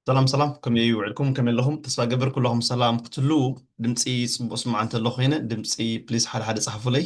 ሰላም ሰላም ከመይ ይውዕልኩም ከመይ ኣለኹም ተስፋ ገብር ኩላኹም ሰላም ክትህልው ድምፂ ፅቡቅ ስማዕ እንተሎ ኮይነ ድምፂ ፕሊስ ሓደ ሓደ ፀሓፉለይ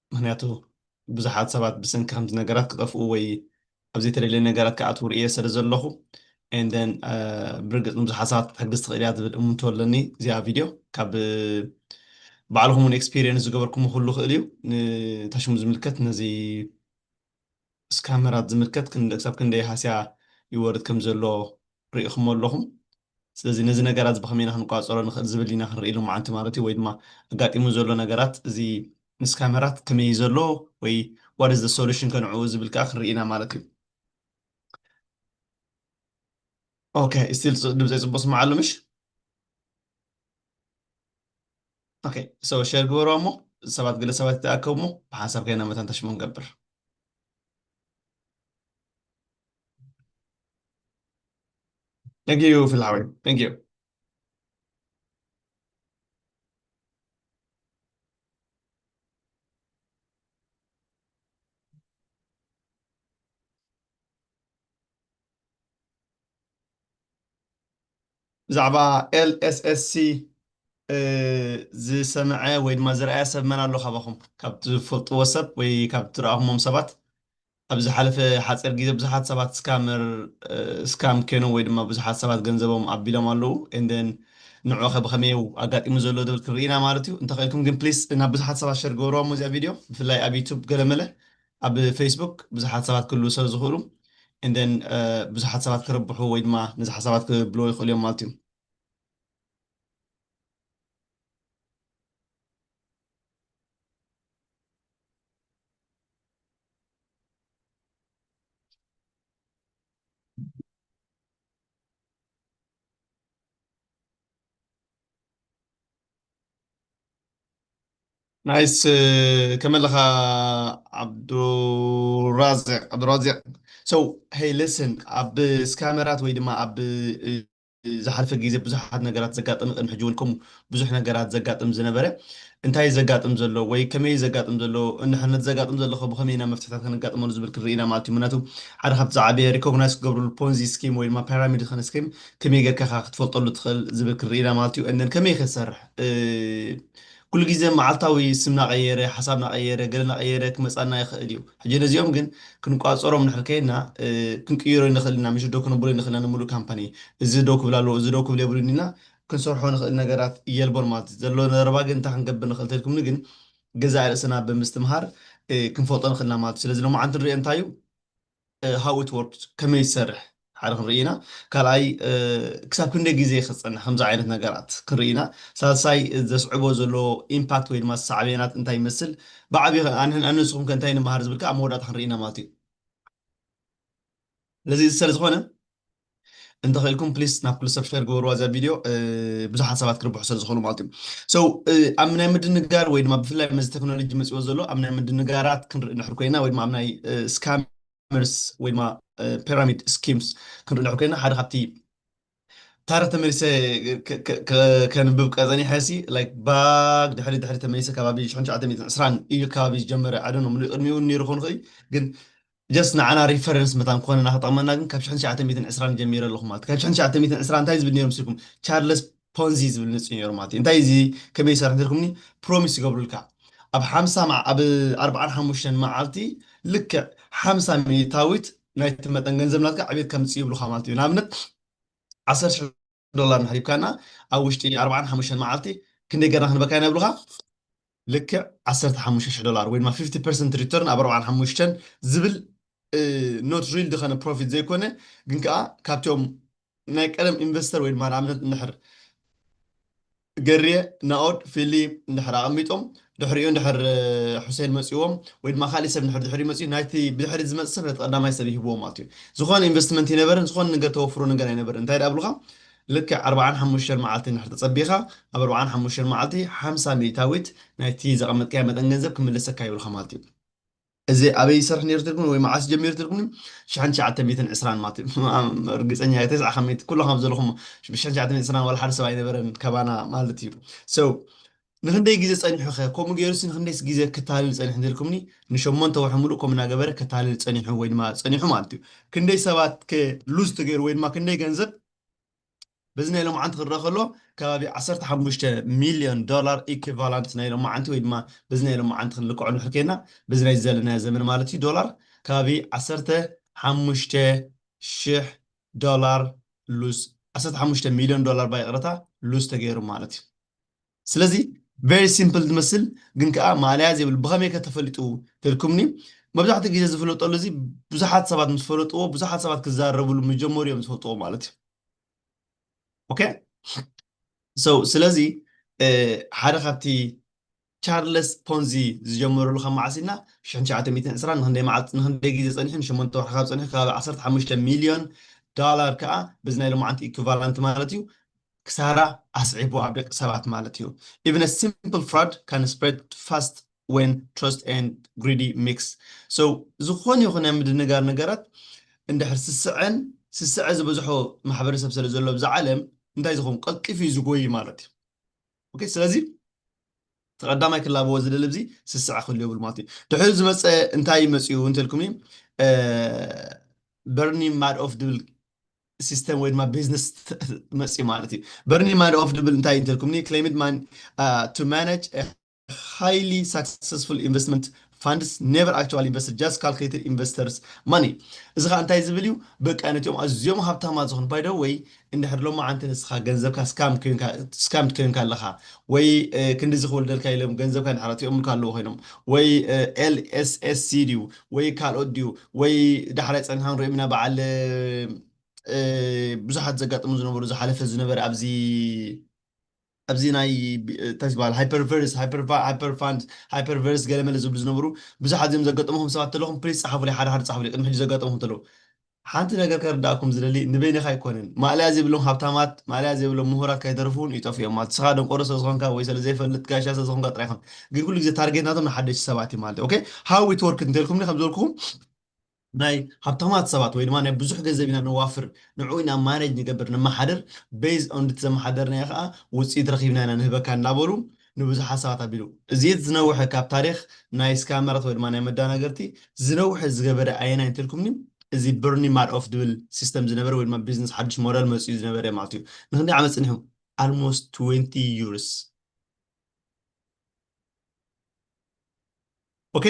ምኽንያቱ ብዙሓት ሰባት ብሰንኪ ከምዚ ነገራት ክጠፍኡ ወይ ኣብ ዘይተደልየ ነገራት ክኣትዉ ርእየ ስለ ዘለኹ and then ብርግጽ ንብዙሓት ሰባት ክትሕግዝ ትኽእል እያ ዝብል እሙንቶ ኣለኒ እዚኣ ቪድዮ ካብ ባዕልኹም እውን ኤክስፒሪየንስ ዝገበርኩሞ ክህሉ ይኽእል እዩ ንታሽሙ ዝምልከት ነዚ ስካመራት ዝምልከት ክሳብ ክንደይ ሃስያ ይወርድ ከም ዘሎ ርኢኹሞ ኣለኹም። ስለዚ ነዚ ነገራት እዚ ብኸመይ ኢና ክንቋጸሮ ንኽእል ዝብል ኢና ክንርኢ ሎማዓንቲ ማለት እዩ። ወይ ድማ ኣጋጢሙ ዘሎ ነገራት እዚ ንስካመራት ከመይ እዩ ዘሎ ወይ what is the solution ከ ንዕኡ ዝብል ከኣ ክንርኢ ኢና ማለት እዩ። ኦከይ ስቲል ድምጸይ ጽቡቕ ዝስማዕ ኣሎ ምሽ? ኦኬ ሶ ሼር ግበሮ እሞ ሰባት ገለ ሰባት ይተኣከቡ እሞ ብሓንሳብ ከይና መታን ተሽሞ ንገብር Thank you ፍልሓወይ Thank you ብዛዕባ LSSC ዝሰመዐ ወይ ድማ ዝረኣየ ሰብ መን ኣሎ ካባኹም? ካብ ትፈልጥዎ ሰብ ወይ ካብ ትረኣኹሞም ሰባት ኣብ ዝሓለፈ ሓጺር ግዜ ብዙሓት ሰባት ስካመር ስካም ኬኖም ወይ ድማ ብዙሓት ሰባት ገንዘቦም ኣቢሎም ኣለዉ and then ንዑ ከ ብኸመይ እዩ ኣጋጢሙ ዘሎ ዝብል ክንርኢ ኢና ማለት እዩ። እንተኸኢልኩም ግን please ናብ ብዙሓት ሰባት ሸር ግበርዋ እሞ እዚኣ ቪድዮ ብፍላይ ኣብ ዩቱብ ገለመለ ኣብ ፌስቡክ ብዙሓት ሰባት ክህልዉ ስለ ዝኽእሉ and then ብዙሓት ሰባት ክርብሑ ወይ ድማ ነዚ ሓሳባት ክብልዎ ይኽእሉ እዮም ማለት እዩ። ናይስ ከመይ ኣለኻ ዓብዱራዚቅ ዓብዱራዚቅ ሶ ሄይ ሊስን ኣብ ስካመራት ወይ ድማ ኣብ ዝሓለፈ ግዜ ብዙሓት ነገራት ዘጋጥም ቅድሚ ሕጂ እውን ከምኡ ብዙሕ ነገራት ዘጋጥም ዝነበረ እንታይ እዩ ዘጋጥም ዘሎ ወይ ከመይ እዩ ዘጋጥም ዘሎ እንሕ ነቲ ዘጋጥም ዘሎ ከ ብኸመይ ኢና መፍትሕታት ከነጋጥመሉ ዝብል ክንርኢ ኢና ማለት እዩ ምክንያቱ ሓደ ካብቲ ዝዓበየ ሪኮግናይዝ ክገብርሉ ፖንዚ ስኪም ወይ ድማ ፓራሚድ ዝኮነ ስኪም ከመይ ጌርካ ኢኻ ክትፈልጠሉ ትኽእል ዝብል ክንርኢና ማለት እዩ እነን ከመይ ክንሰርሕ ኩሉ ግዜ መዓልታዊ ስም ናቐየረ ሓሳብ ናቐየረ ገለ ናቐየረ ክመፃና ይኽእል እዩ ሕጂ ነዚኦም ግን ክንቋፀሮም ንሕር ከይና ክንቅይሮ ንኽእል ኢና ምሽዶ ክንብሎ ንኽእል ኢና ንምሉእ ካምፓኒ እዚ ደው ክብል ኣለዎ እዚ ደው ክብል የብሉን ኢና ክንሰርሖ ንኽእል ነገራት የልቦን ማለት እዩ ዘሎ ዘረባ ግን እንታይ ክንገብር ንኽእል ተልኩምኒ ግን ገዛእ ርእስና ብምስትምሃር ክንፈልጦ ንኽእልና ማለት እዩ ስለዚ ሎማዓንቲ ንሪኦ እንታይ እዩ ሃው ኢት ወርክስ ከመይ ዝሰርሕ ሓደ ክንርኢ ኢና ካልኣይ ክሳብ ክንደይ ግዜ ክፀንሕ ከምዚ ዓይነት ነገራት ክንርኢ ኢና ሳልሳይ ዘስዕቦ ዘሎ ኢምፓክት ወይ ድማ ሳዕቤናት እንታይ ይመስል ብዓብዪ ከ ኣንሕን ኣነ ንስኹም ከ እንታይ ንመሃር ዝብል ከ ኣብ መወዳእታ ክንርኢ ኢና ማለት እዩ ስለዚ እዚ ሰለዝኾነ እንተኽኢልኩም ፕሊስ ናብ ክሉ ሰብስክራይብ ግበርዋ እዛ ቪድዮ ብዙሓት ሰባት ክርብሑ ስለ ዝኾኑ ማለት እዩ ሰው ኣብ ናይ ምድንጋር ወይ ድማ ብፍላይ መዚ ቴክኖሎጂ መፅዎ ዘሎ ኣብ ናይ ምድንጋራት ክንርኢ ንሕር ኮይና ወይ ድማ ኣብ ናይ ስካመርስ ወይ ድማ ፒራሚድ ስኪምስ ክንርኢ ንሕር ኮይና ሓደ ካብቲ ታሪክ ተመሊሰ ከንብብ ቀፀኒሐ ሲ ላይክ ባግ ድሕሪ ድሕሪ ተመሊሰ ከባቢ 1920 እዩ ከባቢ ዝጀመረ ኣደኖ ምሉእ ቅድሚኡ ነይሩ ክኾን ይኽእል ግን ጀስት ንዓና ሪፈረንስ መታን ክኾነና ክጠቕመና ግን ካብ ሽሕን ትሽዓተ ሚእትን ዕስራን ጀሚረ ኣለኹ ማለት እዩ። ካብ ሽሕን ትሽዓተ ሚእትን ዕስራን እንታይ ዝብል ነይሩ ምስልኩም ቻርለስ ፖንዚ ዝብል ንጽ ነይሩ ማለት እዩ። እንታይ እዚ ከመይ ይሰርሕ እንተልኩምኒ ፕሮሚስ ይገብሩልካ ኣብ ሓምሳ መዓ ኣብ ኣርብዓን ሓሙሽተን መዓልቲ ልክዕ ሓምሳ ሚእታዊት ናይቲ መጠን ገንዘብ ናትካ ዕብየት ከምጽእ ይብሉኻ ማለት እዩ። ንኣብነት ዓሰርተ ሽሕ ዶላር ንሕሪብካና ኣብ ውሽጢ ኣርባዓን ሓሙሽተን መዓልቲ ክንደይ ገርና ክንበካ ኢና ይብሉኻ ልክዕ ዓሰርተ ሓሙሽተ ሽሕ ዶላር ወይ ድማ ፊፍቲ ፐርሰንት ሪተርን ኣብ ኣርባዓን ሓሙሽተን ዝብል ኖት ሪል ድኸነ ፕሮፊት ዘይኮነ ግን ከኣ ካብቶም ናይ ቀደም ኢንቨስተር ወይ ድማ ንኣብነት እንድሕር ገርየ፣ ናኦድ፣ ፊሊ እንድሕር ኣቐሚጦም ድሕሪኡ እንድሕር ሑሴን መጺዎም ወይ ድማ ካሊእ ሰብ እንድሕር ድሕሪኡ መጺኡ ናይቲ ብድሕሪት ዝመጽእ ሰብ ነቲ ቀዳማይ ሰብ ይህብዎ ማለት እዩ። ዝኾነ ኢንቨስትመንት ኣይነበረን፣ ዝኾነ ነገር ተወፍሮ ነገር ኣይነበረን። እንታይ ደኣ ብሉኻ ልክዕ ኣርብዓን ሓሙሽተን መዓልቲ እንድሕር ተጸቢኻ ኣብ ኣርብዓን ሓሙሽተን መዓልቲ ሓምሳ ሚእታዊት ናይቲ ዘቐመጥካዮ መጠን ገንዘብ ክምለሰካ ይብሉኻ ማለት እዩ። እዚ ኣበይ ይሰርሕ ነይሩ ትብልኒ ወይ መዓስ ጀሚሩ ትብልኒ ሽሕን ትሽዓተ ሚእትን ዕስራን ማት ርግጸኛ እየ ተስዓ ካብ ሚእቲ ኩላኹም ዘለኹም ሽሕን ትሽዓተ ሚእትን ዕስራን ዋላ ሓደ ሰብ ኣይነበረን ካባና ማለት እዩ so ንክንደይ ግዜ ጸኒሑ ከ ከምኡ ገይሩሲ ንክንደይስ ግዜ ክታልል ጸኒሑ እንተልኩምኒ ንሸሞንተ ወርሒ ምሉእ ከምኡ እናገበረ ከታልል ጸኒሑ ወይ ድማ ጸኒሑ ማለት እዩ ክንደይ ሰባት ከ ሉዝ ተገይሩ ወይ ድማ ክንደይ ገንዘብ በዚ ናይ ሎምዓንቲ ክረኣ ከሎ ከባቢ ዓሰርተ ሓሙሽተ ሚልዮን ዶላር ኢኩቫላንት ናይ ሎምዓንቲ ወይ ድማ በዚ ናይ ሎምዓንቲ ክንልክዖ እንድሕር ኴንና በዚ ናይዚ ዘለናዮ ዘመን ማለት እዩ ዶላር ከባቢ ዓሰርተ ሓሙሽተ ሽሕ ዶላር ሉዝ ዓሰርተ ሓሙሽተ ሚልዮን ዶላር ባይቕረታ ሉዝ ተገይሩ ማለት እዩ። ስለዚ very simple ዝመስል ግን ከኣ ማእለያ ዘይብሉ ብኸመይ ከ ተፈሊጡ ተልኩምኒ መብዛሕትኡ ግዜ ዝፍለጠሉ እዚ ብዙሓት ሰባት ምስ ፈለጥዎ ብዙሓት ሰባት ክዛረብሉ ምስ ጀመሩ እዮም ዝፈልጥዎ ማለት እዩ ኦኬ ሶ ስለዚ ሓደ ካብቲ ቻርለስ ፖንዚ ዝጀመረሉ ካብ መዓስ ኢልና 1920 ንክንደይ መዓልቲ ንክንደይ ግዜ ጸኒሑ ንሸሞንተ ወርሒ ካብ ጸኒሑ ከባቢ 15 ሚልዮን ዶላር ከዓ በዚ ናይ ሎማዓንቲ ኢኩቫላንት ማለት እዩ ክሳራ ኣስዒቡ ኣብ ደቂ ሰባት ማለት እዩ። Even a simple fraud can spread fast when trust and greedy mix so ዝኾነ ይኹን ናይ ምድንጋር ነገራት እንድሕር ስስዐን ስስዐ ዝበዝሖ ማሕበረሰብ ስለ ዘሎ ኣብዛ ዓለም እንታይ ዝኸውን ቀልጢፉ እዩ ዝጎይ ማለት እዩ። ኦኬ ስለዚ እቲ ቀዳማይ ክላበዎ ዝደሊ ኣብዚ ስስዐ ክህሉ የብሉ ማለት እዩ። ድሕሪ ዝመፀ እንታይ መፅኡ እንተልኩምኒ በርኒ ማድኦፍ ዝብል ሲስተም ወይ ድማ ቢዝነስ መፅዩ ማለት እዩ በርኒ ማዶፍ ድብል እንታይ እንተልኩምኒ ክሌምድ ማን ቱ ማናጅ ሃይሊ ሳክሰስፉል ኢንቨስትመንት ፋንድስ ኔቨር ኣክቹዋሊ ኢንቨስትድ ጃስት ካልኩሌትድ ኢንቨስተርስ ማኒ እዚ ከዓ እንታይ ዝብል እዩ በቃ ነቲኦም ኣዝዮም ሃብታማት ዝኾኑ ባይደ ወይ እንድሕር ሎማ ዓንቲ ንስኻ ገንዘብካ ስካምድ ኮይንካ ኣለኻ ወይ ክንዲዚ ክወልደልካ ኢሎም ገንዘብካ እንድሕር ኣትኦምልካ ኣለዎ ኮይኖም ወይ ኤልኤስኤስሲ ድዩ ወይ ካልኦት ድዩ ወይ ዳሕራይ ጸኒሕና ክንሪኦም ኢና በዓል ብዙሓት ዘጋጥሙ ዝነበሩ ዝሓለፈ ዝነበረ ኣብዚ ኣብዚ ናይ እንታይ ዝበሃል ሃይፐርቨርስ ሃይፐርፋንድ ሃይፐርቨርስ ገለመለ ዝብሉ ዝነበሩ ብዙሓት እዚኦም ዘጋጠምኹም ሰባት ተለኹም ፕሊስ ጸሓፉለይ ሓደ ሓደ ጸሓፉለይ ቅድሚ ሕጂ ዘጋጠምኹም ተለዉ ሓንቲ ነገር ከርድኣኩም ዝደሊ ንበይንካ ኣይኮነን ማእለያ ዘይብሎም ሃብታማት ማእለያ ዘይብሎም ምሁራት ከይተርፉ ውን ይጠፍኡ እዮም ማለት ንስካ ደንቆሮ ስለ ዝኮንካ ወይ ስለ ዘይፈልጥ ጋሻ ስለ ዝኮንካ ጥራይ ኣይኮነን ግን ኩሉ ግዜ ታርጌት ናቶም ንሓደሽቲ ሰባት እዩ ማለት እዩ ኦኬ ሃው ኢት ወርክድ እንተልኩምኒ ከም ዝበልኩኩም ናይ ሃብታማት ሰባት ወይ ድማ ናይ ብዙሕ ገንዘብ ኢና ነዋፍር ንዕኡ ኢና ማነጅ ንገብር ነማሓድር በይዝ ኦን ድቲ ዘማሓደርናዮ ከኣ ውጽኢት ረኪብና ኢና ንህበካ እንዳበሉ ንብዙሕ ሓሳባት ኣቢሉ። እዚ እቲ ዝነውሐ ካብ ታሪኽ ናይ ስካመራት ወይ ድማ ናይ መዳናገርቲ ዝነውሐ ዝገበረ ኣየናይ እንተልኩምኒ እዚ በርኒ ማድኦፍ ዝብል ሲስተም ዝነበረ ወይ ድማ ቢዝነስ ሓዱሽ ሞደል መጺኡ ዝነበረ ማለት እዩ። ንኽንደይ ዓመት ጸኒሑ? ኣልሞስት ትዌንቲ ዩርስ። ኦኬ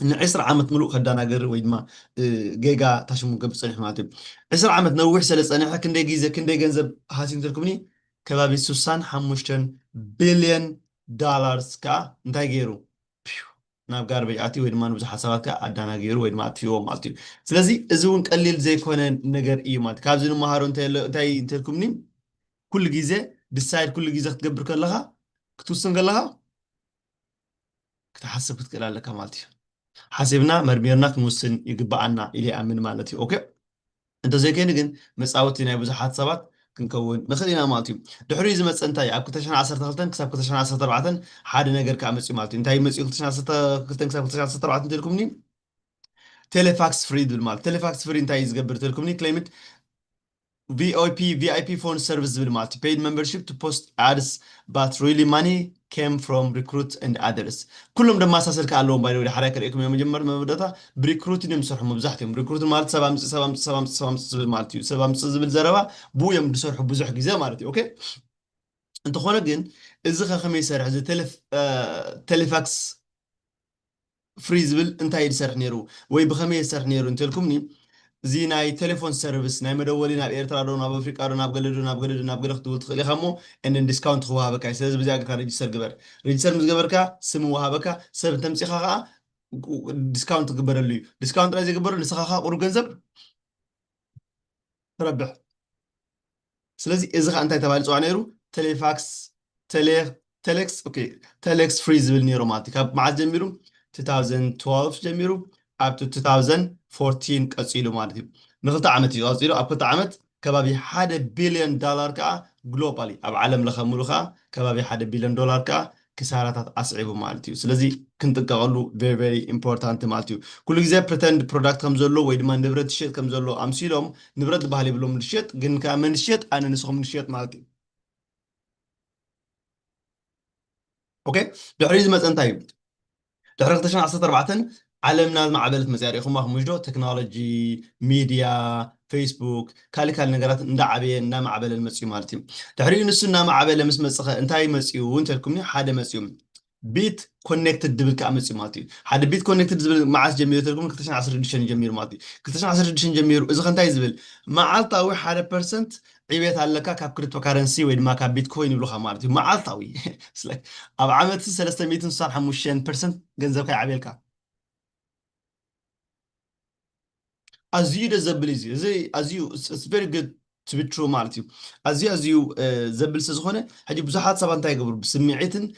ንዕስራ ዓመት ምሉእ ከዳናገር ወይ ድማ ጌጋ ታሽሙ ክገብር ፀኒሑ ማለት እዩ ዕስራ ዓመት ነዊሕ ስለ ዝፀንሐ ክንደይ ግዜ ክንደይ ገንዘብ ሃሲዩ እንትልኩምኒ ከባቢ ሱሳን ሓሙሽተን ቢልዮን ዳላርስ ከዓ እንታይ ገይሩ ናብ ጋርበጅ ኣትዩ ወይ ድማ ንብዙሓት ሰባት ከዓ ኣዳናጊሩ ወይ ድማ ኣጥፊዎ ማለት እዩ ስለዚ እዚ እውን ቀሊል ዘይኮነ ነገር እዩ ማለት ካብዚ ንመሃሮ እንታይ እንተልኩምኒ ኩሉ ግዜ ድሳይድ ኩሉ ግዜ ክትገብር ከለካ ክትውስን ከለካ ክትሓስብ ክትክእል ኣለካ ማለት እዩ። ሓሲብና መርሚርና ክንውስን ይግበኣና ኢለ ይኣምን ማለት እዩ። ኦኬ እንተዘይኮይኑ ግን መጻወቲ ናይ ብዙሓት ሰባት ክንከውን ንኽእል ኢና ማለት እዩ። ድሕሪኡ ዝመጸ እንታይ እዩ? ኣብ ክልተ ሽሕን ዓሰርተ ክልተን ክሳብ ክልተ ሽሕን ዓሰርተ ኣርባዕተን ሓደ ነገር ከኣ መጺኡ ማለት እዩ። እንታይ እዩ መጺኡ ክልተ ሽሕን ዓሰርተ ክልተን ክሳብ ክልተ ሽሕን ዓሰርተ ኣርባዕተን እንተኢልኩምኒ ቴሌፋክስ ፍሪ ዝብል ማለት ቴሌፋክስ ፍሪ እንታይ እዩ ዝገብር እንተኢልኩምኒ ክሌምት VOP፣ VIP Phone Service ዝብል ማለት እዩ። Paid Membership to Post Ads But Really Money Came From Recruit and Others ኩሎም ደማሳሰል ከኣ ኣለዎም by the way ዳሓራይ ከርእየኩም እየ መጀመር መወዳእታ ብሪክሩትን እዮም ዝሰርሑ መብዛሕትኦም ሪክሩት ማለት ሰብ ኣምጽእ ሰብ ኣምጽእ ሰብ ኣምጽእ ሰብ ኣምጽእ ዝብል ማለት እዩ ሰብ ኣምጽእ ዝብል ዘረባ ብኡ እዮም ዝሰርሑ ብዙሕ ግዜ ማለት እዩ ኦኬ እንተኾነ ግን እዚ ከ ከመይ ይሰርሕ እዚ ቴሌፋክስ ፍሪ ዝብል እንታይ እዩ ዝሰርሕ ኔሩ ወይ ብከመይ እየ ዝሰርሕ ኔሩ እንተልኩምኒ እዚ ናይ ቴሌፎን ሰርቭስ ናይ መደወሊ ናብ ኤርትራ ዶ ናብ ኣፍሪቃ ዶ ናብ ገለ ዶ ናብ ገለ ዶ ናብ ገለ ክትብል ትክእል ኢካ እሞ and then discount ክወሃበካ እዩ ስለዚ በዚኣ ጌርካ register ግበር register ምስ ገበርካ ስም ይወሃበካ ሰብ እንተምጺካ ከኣ ዲስካውንት ክግበረሉ እዩ ዲስካውንት ጥራይ ዘይግበረሉ ንስካ ከኣ ቁሩብ ገንዘብ ትረብሕ ስለዚ እዚ ከዓ እንታይ ተባሂሉ ይፅዋዕ ነይሩ ቴሌፋክስ ቴሌክስ ኦኬ ቴሌክስ ፍሪ ዝብል ነይሩ ማለት እዩ ካብ መዓዝ ጀሚሩ 2012 ጀሚሩ ኣብቲ 2014 ቀፂሉ ማለት እዩ ንክልተ ዓመት እዩ ቀፂሉ ኣብ ክልተ ዓመት ከባቢ ሓደ ቢልዮን ዳላር ከዓ ግሎባሊ ኣብ ዓለም ለኸ ሙሉ ከዓ ከባቢ ሓደ ቢልዮን ዶላር ከዓ ክሳራታት ኣስዒቡ ማለት እዩ ስለዚ ክንጥቀቐሉ ቨሪ ቨሪ ኢምፖርታንት ማለት እዩ ኩሉ ግዜ ፕሪተንድ ፕሮዳክት ከም ዘሎ ወይ ድማ ንብረት ዝሸጥ ከም ዘሎ ኣምሲሎም ንብረት ዝበሃል የብሎም ዝሸጥ ግን ከዓ መን ዝሸጥ ኣነ ንስኹም ንሸጥ ማለት እዩ ኦኬ ድሕሪ ዝመፀ እንታይ እዩ ድሕሪ ክልተ ሽሕን ዓሰርተ ኣርባዕተን ዓለምና ዝማዕበለት መጺኣ ርኢኹማ ክምሽ ዶ ተክኖሎጂ ሚድያ ፈይስቡክ ካልእ ካልእ ነገራት እንዳዓበየን እንዳማዕበለን መጺኡ ማለት እዩ ድሕሪኡ ንሱ እናማዕበለ ምስ መጽኸ እንታይ መጺኡ እንተልኩምኒ ሓደ መጺኡ ቢት ኮኔክትድ ድብል ከዓ መፂኡ ማለት እዩ ሓደ ቢት ኮኔክትድ ዝብል መዓስ ጀሚሩ ተልኩም 216 ጀሚሩ ማለት እዩ 216 ጀሚሩ እዚ ከንታይ ዝብል መዓልታዊ ሓደ ፐርሰንት ዕብየት ኣለካ ካብ ክሪፕቶ ካረንሲ ወይ ድማ ካብ ቢትኮይን ይብሉኻ ማለት እዩ መዓልታዊ ኣብ ዓመት ሰለስተ ሚእትን ስሳን ሓሙሽተን ፐርሰንት ገንዘብካ ይዓብየልካ ኣዝዩ ደስ ዘብል እዩ እዚ ኣዝዩ ቨሪ ግድ ቱ ቢ ትሩ ማለት እዩ ኣዝዩ ኣዝዩ ዘብል ስለ ዝኾነ ሕጂ ብዙሓት ሰባት እንታይ ይገብሩ ብስምዒትን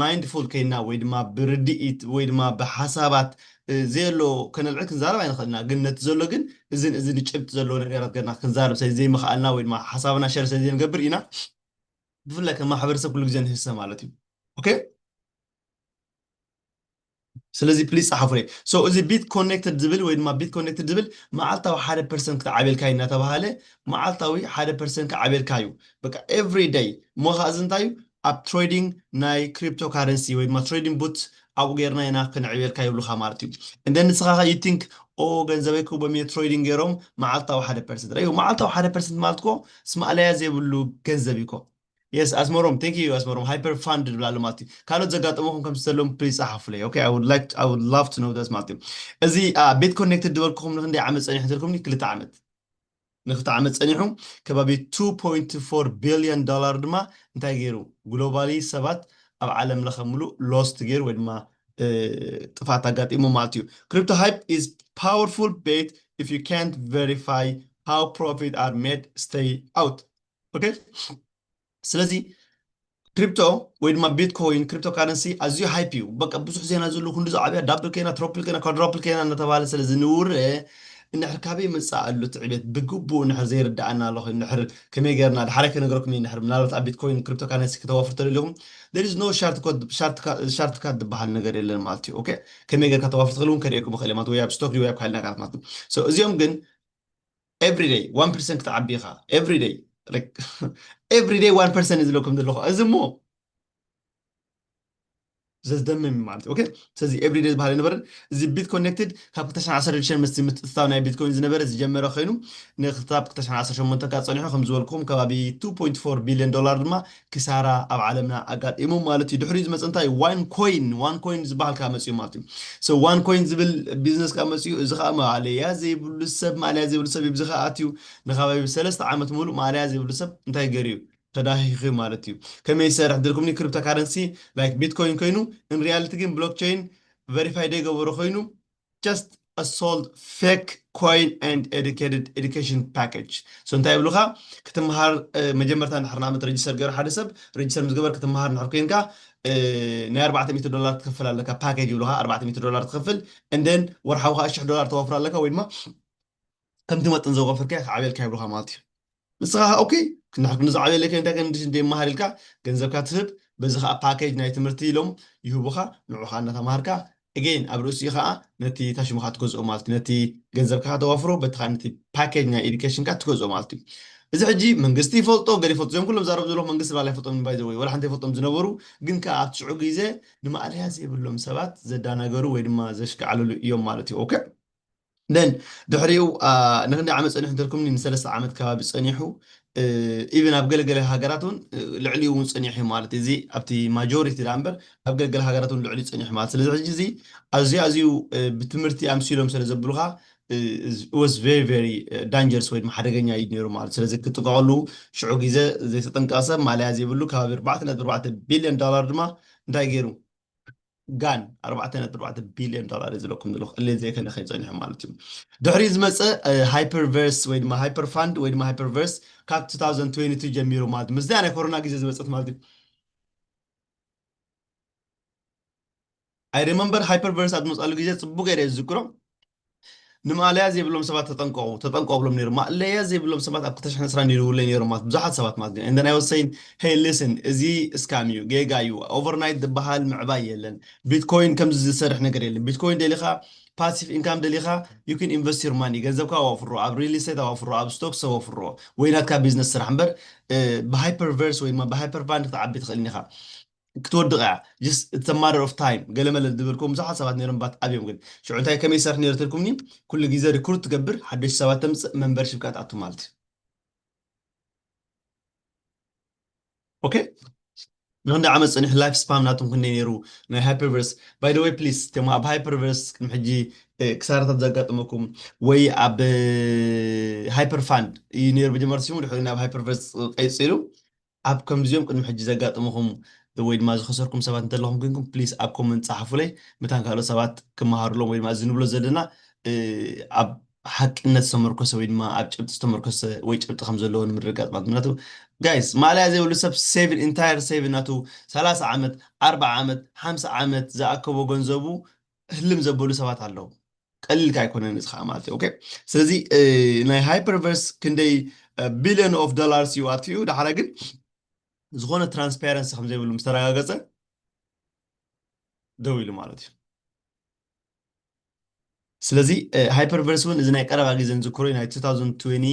ማይንድፉል ኴንና ወይ ድማ ብርድኢት ወይ ድማ ብሓሳባት ዘየሎ ከነልዕል ክንዛረብ ኣይንኽእልን ኢና። ግን ነቲ ዘሎ ግን እዝን እዝን ጭብጢ ዘለዎ ነገራት ጌርና ክንዛረብ ስለ ዘይምኽኣልና ወይ ድማ ሓሳብና ሸር ስለ ዘይንገብር ኢና ብፍላይ ከም ማሕበረሰብ ኩሉ ግዜ ንህሰ ማለት እዩ። ኦኬ። ስለዚ ፕሊስ ጸሓፉለይ so እዚ ቢት ኮኔክትድ ዝብል ወይ ድማ ቢት ኮኔክትድ ዝብል መዓልታዊ ሓደ ፐርሰንት ክትዓብየልካ እዩ እናተባሃለ መዓልታዊ ሓደ ፐርሰንት ክዓብየልካ እዩ በቃ ኤቭሪ ደይ እሞ ኸኣ እዚ እንታይ እዩ ኣብ ትሬዲንግ ናይ ክሪፕቶ ካረንሲ ወይ ድማ ትሬዲንግ ቡት ኣብኡ ጌርና ኢና ክንዕብየልካ ይብሉኻ ማለት እዩ እንደ ንስኻ ኸ you think ኦ ገንዘበይ ክህቦም እየ ትሬዲንግ ጌሮም መዓልታዊ ሓደ ፐርሰንት ረኣዩ መዓልታዊ ሓደ ፐርሰንት ማለት እኮ እስማእለያ ዘይብሉ ገንዘብ እዩ እኮ Yes ኣስመሮም thank you ኣስመሮም ሃይፐር ፋንድ ንብላ ኣሎ ማለት እዩ ካልኦት ዘጋጠመኹም ከምቲ ዘለዎም ፕሊዝ ጸሓፉለይ ኦኬ I would like to- I would love to know this ማለት እዩ እዚ ኣ፣ ቤት ኮኔክትድ ዝበልኩኹም ንክንደይ ዓመት ጸኒሑ እንተልኩምኒ ክልተ ዓመት ንክልተ ዓመት ጸኒሑ ከባቢ 2.4 ቢልዮን ዶላር ድማ እንታይ ገይሩ ግሎባሊ ሰባት ኣብ ዓለም ለኸ ምሉእ ሎስት ገይሩ ወይ ድማ እ፣ ጥፍኣት ኣጋጢሙ ማለት እዩ ክሪፕቶ ሃይፕ ኢዝ ፓወርፉል ቤት if you can't verify how profit are made stay out ኦኬ ስለዚ ክሪፕቶ ወይ ድማ ቢትኮይን ክሪፕቶ ካረንሲ ኣዝዩ ሃይፕ እዩ በቃ ብዙሕ ዜና ዝሉ ክንዲ ዝዓብያ ዳብል ከይና ትሮፕል ከይና ኳድሮፕል ከይና እናተባሃለ ስለ ዝንውረ እንድሕር ካበይ መፃእ ኣሉ እቲ ዕቤት ብግቡእ እንድሕር ዘይርዳኣና ኣሎ ኮይኑ እንድሕር ከመይ ገርና ድሓረ ክነገረኩም እዩ እንድሕር ምናልባት ኣብ ቢትኮይን ክሪፕቶ ካረንሲ ክተዋፍሩ ተደሊኹም there is no ሻርትካት ዝበሃል ነገር የለን ማለት እዩ ኦኬ ከመይ ገርካ ተዋፍር ትኽእል እውን ከርእየኩም ይኽእል ማለት ወይ ኣብ ስቶክ ወይ ኣብ ካልእ ነገራት ማለት እዩ እዚኦም ግን ኤቭሪ ደይ ዋን ፐርሰንት ክትዓቢ ኢኻ ኤቭሪ ደይ ኤቭሪ ደይ ዋን ፐርሰንት ዝለኩም ዘለኹ እዚ እሞ ዘዝደምም እዩ ማለት እዩ ኦኬ ስለዚ ኤቭሪ ደይ ዝበሃል ነበርን እዚ ቢት ኮኔክትድ ካብ 2016 ምስ ምትእትታው ናይ ቢትኮይን ዝነበረ ዝጀመረ ኮይኑ ንክታብ 2018 ካብ ፀኒሑ ከም ዝበልኩም ከባቢ 2.4 ቢልዮን ዶላር ድማ ክሳራ ኣብ ዓለምና ኣጋጢሙ ማለት እዩ ድሕሪኡ ዝመፀ እንታይ እዩ ዋን ኮይን ዋን ኮይን ዝበሃል ካብ መፅኡ ማለት እዩ ሶ ዋን ኮይን ዝብል ቢዝነስ ካብ መፅኡ እዚ ከዓ ማእለያ ዘይብሉ ሰብ ማእለያ ዘይብሉ ሰብ ብዚ ከዓ ኣትዩ ንካባቢ ሰለስተ ዓመት ሙሉእ ማእለያ ዘይብሉ ሰብ እንታይ ገይሩ እዩ ተዳኺኹ እዩ ማለት እዩ ከመይ ይሰርሕ ድልኩምኒ ክሪፕቶ ካረንሲ ላይክ ቢትኮይን ኮይኑ ኢን ሪያሊቲ ግን ብሎክቸይን ቨሪፋይ ደይገበሮ ኮይኑ just a sold fake coin and educated education package so እንታይ ይብሉኻ ክትመሃር መጀመርታ እንድሕር ንኣብነት ረጅስተር ገይሩ ሓደ ሰብ ረጅስተር ምስ ገበር ክትመሃር እንድሕር ኮይንካ ናይ ኣርባዕተ ሚእቲ ዶላር ትከፍል ኣለካ ፓኬጅ ይብሉኻ ኣርባዕተ ሚእቲ ዶላር ትከፍል እንደን ወርሓዊ ከዓ ሽሕ ዶላር ተወፍር ኣለካ ወይ ድማ ከምቲ መጠን ዘወፈርካዮ ክዓብየልካ ይብሉኻ ማለት እዩ ንስኻ ከ ኦኬ ክንዳሕር ክንዲ ዝዓብየለይ ከ እንታይ ክንዲ እንደ ይመሃር ኢልካ ገንዘብካ ትህብ በዚ ከዓ ፓኬጅ ናይ ትምህርቲ ኢሎም ይህቡኻ ንዑ ከዓ እናተማሃርካ again ኣብ ርእሲኡ ከዓ ነቲ እታ ሽምካ ትገዝኦ ማለት እዩ ነቲ ገንዘብካ ተዋፍሮ በቲ ከዓ ነቲ ፓኬጅ ናይ ኤዱኬሽንካ ትገዝኦ ማለት እዩ እዚ ሕጂ መንግስቲ ይፈልጦ ገለ ይፈልጦ እዚኦም ኩሎም ዛረብ ዘለኹ መንግስቲ ባላ ይፈልጦም ባይ ዘወይ ወላ ሓንቲ ይፈልጦም ዝነበሩ ግን ከዓ ኣብቲ ሽዑ ግዜ ንማእለያ ዘይብሎም ሰባት ዘዳናገሩ ወይ ድማ ዘሽከዓለሉ እዮም ማለት እዩ ኦኬ then ድሕሪኡ ንክንደይ ዓመት ጸኒሑ እንተልኩምኒ ንሰለስተ ዓመት ከባቢ ጸኒሑ ኢቨን ኣብ ገለገለ ሃገራት እውን ልዕሊኡ እውን ጸኒሑ ማለት እዩ እዚ ኣብቲ ማጆሪቲ ዳ እምበር ኣብ ገለገለ ሃገራት እውን ልዕሊኡ ጸኒሑ ማለት ስለዚ ሕጂ እዚ ኣዝዩ ኣዝዩ ብትምህርቲ ኣምሲሎም ስለ ዘብሉኻ ወስ ቨሪ ቨሪ ዳንጀርስ ወይ ድማ ሓደገኛ እዩ ነይሩ ማለት ስለዚ ክጥንቀቐሉ ሽዑ ግዜ ዘይተጠንቀቐ ሰብ ማልያ ዘይብሉ ከባቢ ኣርባዕተ ነጥቢ ኣርባዕተ ቢልዮን ዶላር ድማ እንታይ ገይሩ ጋን ኣርባዕተ ነጥቢ ኣርባዕተ ቢልዮን ዶላር እየ ዝብለኩም ዘለኹ እለ ዘይከለኸ ጸኒሑ ማለት እዩ ድሕሪኡ ዝመፀ ሃይፐርቨርስ ወይ ድማ ሃይፐር ፋንድ ወይ ድማ ሃይፐርቨርስ ካብ 2022 ጀሚሩ ማለት ምስዚኣ ናይ ኮሮና ግዜ ዝመፀት ማለት እዩ ኣይ ሪመምበር ሃይፐርቨርስ ኣብ ዝመፅኣሉ ግዜ ፅቡቅ ገይረ ዝዝክሮ ንማእለያ ዘይብሎም ሰባት ተጠንቀቑ ተጠንቀቑ እብሎም ነይሩ። ማእለያ ዘይብሎም ሰባት ኣብ ክልተ ሽሕን ዕስራን ይድውሉለይ ነይሮም ማለት ብዙሓት ሰባት ማለት እዩ። And then I was saying, Hey listen እዚ እስካም እዩ፣ ጌጋ እዩ፣ ኦቨርናይት ዝበሃል ምዕባይ የለን፣ ቢትኮይን ከምዚ ዝሰርሕ ነገር የለን፣ ቢትኮይን ደሊኻ ፓሲቭ ኢንካም ደሊኻ you can invest your money ገንዘብካ ኣዋፍሮ፣ ኣብ ሪል ኢስቴት ኣዋፍሮ፣ ኣብ ስቶክስ ኣዋፍሮ ወይ ናትካ ቢዝነስ ስራሕ እምበር ብሃይፐርቨርስ ወይ ድማ ብሃይፐርቫንድ ክትዓቢ ትኽእል ኢኻ። ክትወድቕ እያ just it's a matter of time ገለ መለ ዝነበርኩም ብዙሓት ሰባት ነይሮም ባት ኣብዮም ግን ሽዑ እንታይ ከመይ ይሰርሕ ነይሩ ተልኩምኒ ኩሉ ግዜ ሪክሩት ትገብር ሓደሽቲ ሰባት ተምፅእ መንበርሽፕ ከዓ ትኣቱ ማለት እዩ ኦኬ ንክንደ ዓመት ፅኒሑ ላይፍ ስፓም ናቶም ክንደይ ነይሩ ናይ ሃይፐርቨርስ ባይ ወይ ፕሊስ እቶም ኣብ ሃይፐርቨርስ ቅድሚ ሕጂ ክሳራታት ዘጋጠመኩም ወይ ኣብ ሃይፐር ፋንድ እዩ ነይሩ መጀመርታ ሲሙ ድሕሪ ናብ ሃይፐርቨርስ ቀይፂሉ ኣብ ከምዚኦም ቅድሚ ሕጂ ዘጋጥሙኹም ወይ ድማ ዝኸሰርኩም ሰባት እንተለኹም ኮይንኩም please ኣብ comment ጸሓፉለይ መታን ካልኦት ሰባት ክመሃሩሎም ወይ ድማ እዚ ንብሎ ዘለና ኣብ ሓቅነት ዝተመርኮሰ ወይ ድማ ኣብ ጭብጢ ዝተመርኮሰ ወይ ጭብጢ ከም ዘለዎ ንምርግጋጽ ማለት ምክንያቱ ጋይስ ማእለያ ዘይብሉ ሰብ ሴቭን ኢንታየር ሴቭን ናቱ ሰላሳ ዓመት ኣርብዓ ዓመት ሓምሳ ዓመት ዝኣከቦ ገንዘቡ ህልም ዘበሉ ሰባት ኣለዉ ቀሊል ከ ኣይኮነን እዚ ከዓ ማለት እዩ ኦኬ ስለዚ ናይ ሃይፐርቨርስ ክንደይ ቢልዮን ኦፍ ዶላርስ እዩ ኣጥፊኡ ዳሓረ ግን ዝኾነ ትራንስፓረንሲ ከም ዘይብሉ ምስ ተረጋገፀ ደው ኢሉ ማለት እዩ ስለዚ ሃይፐርቨርስ እውን እዚ ናይ ቀረባ ግዜ ንዝክሮ ናይ 2020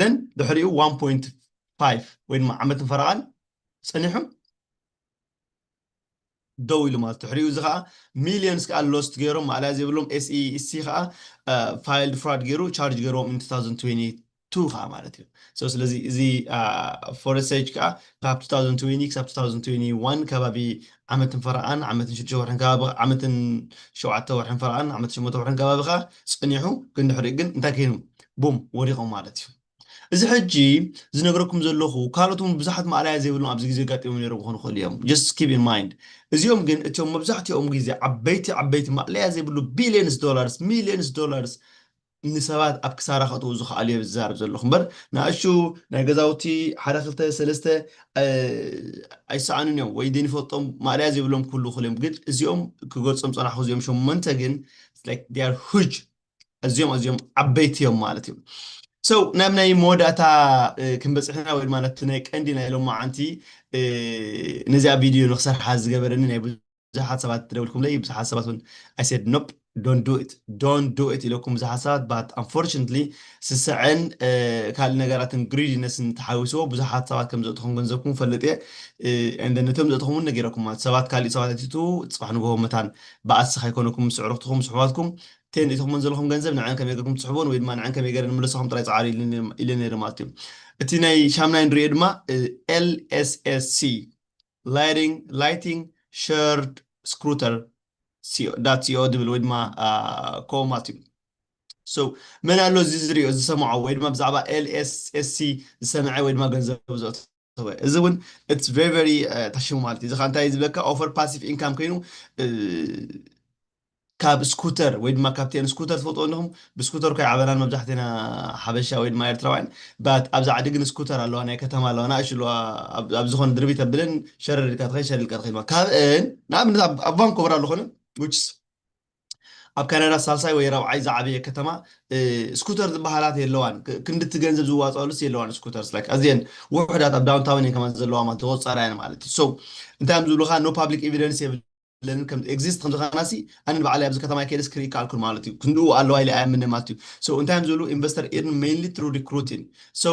ነን ድሕሪኡ ዋን ፖይንት ፋይቭ ወይ ድማ ዓመትን ፈረቓን ፀኒሑ ደው ኢሉ ማለት ድሕሪኡ እዚ ከዓ ሚሊየንስ ከዓ ሎስት ገይሮም ማእለያ ዘይብሎም ኤስኢሲ ከዓ ፋይልድ ፍራድ ገይሩ ቻርጅ ገይሮም ኢን 2022 ከዓ ማለት እዩ ሶ ስለዚ እዚ ፎረሰጅ ከዓ ካብ 2020 ክሳብ 2021 ከባቢ ዓመትን ፈረቓን ዓመትን ሽዱሽተ ወርሕን ከባቢ ዓመትን ሸውዓተ ወርሕን ፈረቓን ዓመትን ሸሞንተ ወርሕን ከባቢ ከዓ ጸኒሑ ግን ድሕሪኡ ግን እንታይ ከይኑ ቡም ወዲቖም ማለት እዩ። እዚ ሕጂ ዝነግረኩም ዘለኹ ካልኦት እውን ብዙሓት ማእላያ ዘይብሎም ኣብዚ ግዜ ኣጋጢሞም ነይሮም ክኾኑ ይኽእሉ እዮም just keep in mind እዚኦም ግን እቲኦም መብዛሕትኦም ግዜ ዓበይቲ ዓበይቲ ማእለያ ዘይብሉ ቢልዮንስ ዶላርስ ሚልዮንስ ዶላርስ ንሰባት ኣብ ክሳራ ከእትዉ ዝኸኣሉ እየ ዝዛረብ ዘለኹ እምበር ንኣሹ ናይ ገዛውቲ ሓደ ክልተ ሰለስተ ኣይሰኣኑን እዮም ወይ ደይንፈልጦም ማእለያ ዘይብሎም ክህልዉ ክእሉ እዮም ግን እዚኦም ክገልጾም ጸናሕኩ እዚኦም ሸመንተ ግን ኣዝዮም ኣዝዮም ዓበይቲ እዮም ማለት እዩ ሰው ናብ ናይ መወዳእታ ክንበፅሕና ወይ ድማ ነቲ ናይ ቀንዲ ናይ ሎማዓንቲ ነዚኣ ቪድዮ ንክሰርሓ ዝገበረኒ ናይ ብዙሓት ሰባት ትደውልኩምለይ ብዙሓት ሰባት እውን ኣይ ሰድ ኖፕ ዶን ዱ ኢት ዶን ዱ ኢት ኢለኩም ብዙሓት ሰባት ባት ኣንፎርችንትሊ ስስዐን ካልእ ነገራትን ግሪድነስን ተሓዊስዎ ብዙሓት ሰባት ከም ዘእትኹም ገንዘብኩም ፈልጥ እየ እንደነቶም ዘእትኹም እውን ነጊረኩም ማለት ሰባት ካሊእ ሰባት ኣይትቱ ፅባሕ ንግሆ መታን ባኣሲ ከይኮነኩም ምስ ኣዕሩኽትኹም ምስ ኣሕዋትኩም እተን እትህብክመን ዘለኹም ገንዘብ ንዐን ከመይ ገርኩም ትስሕቡወን ወይ ድማ ንዐን ከመይ ገረ ንምለሰኹም ጥራይ ጸዓሩ ኢለ ነይረ ማለት እዩ እቲ ናይ ሻምናይ ንሪኦ ድማ LSSC Lighting Lighting Shared Scooter ዳት ሲኦ ድብል ወይ ድማ ከምኡ ማለት እዩ ሶ መን ኣሎ እዚ ዝሪኦ ዝሰምዖ ወይ ድማ ብዛዕባ LSSC ዝሰምዐ ወይ ድማ ገንዘብ ዘእቱ እወ እዚ እውን ኢትስ ቨሪ ቨሪ ተሽሙ ማለት እዩ እዚ ከዓ እንታይ ዝብለካ ኦፈር ፓሲቭ ኢንካም ኮይኑ ካብ ስኩተር ወይ ድማ ካብቲአን ስኩተር ትፈልጥዎ ኣለኹም ብስኩተር እኳ ይዓበናን መብዛሕትና ሓበሻ ወይ ድማ ኤርትራውያን ባት ኣብዛ ዓዲ ግን ስኩተር ኣለዋ ናይ ከተማ ኣለዋ ናእሽ ኣለዋ ኣብ ዝኾነ ድርቢ ተብለን ሸረር ኢልካ ትኸይድ ሸር ኢልካ ትኸይድ ካብአን ንኣብነት ኣብ ቫንኮቨር ኣሎ ኮነ ውችስ ኣብ ካናዳ ሳልሳይ ወይ ራብዓይ ዝዓበየ ከተማ ስኩተር ዝበሃላት የለዋን ክንዲ እቲ ገንዘብ ዝዋጸኣሉስ የለዋን ስኩተርስ like ኣዝየን ውሑዳት ኣብ ዳውንታውን እየን ከማን ዘለዋ ማለት ተቆጻራ እየን ማለት እዩ so እንታይ እዮም ዝብሉካ no public evidence የብለንን ከም exist ከም ዝኸናሲ ኣነ ንባዕለይ ኣብዚ ከተማ ከይደስ ክርኢ ካልኩን ማለት እዩ ክንድኡ ኣለዋ ኢለ ኣይኣምንን ማለት እዩ so እንታይ እዮም ዝብሉ ኢንቨስተር ኢርን ሜይንሊ ትሩ ሪክሩቲን so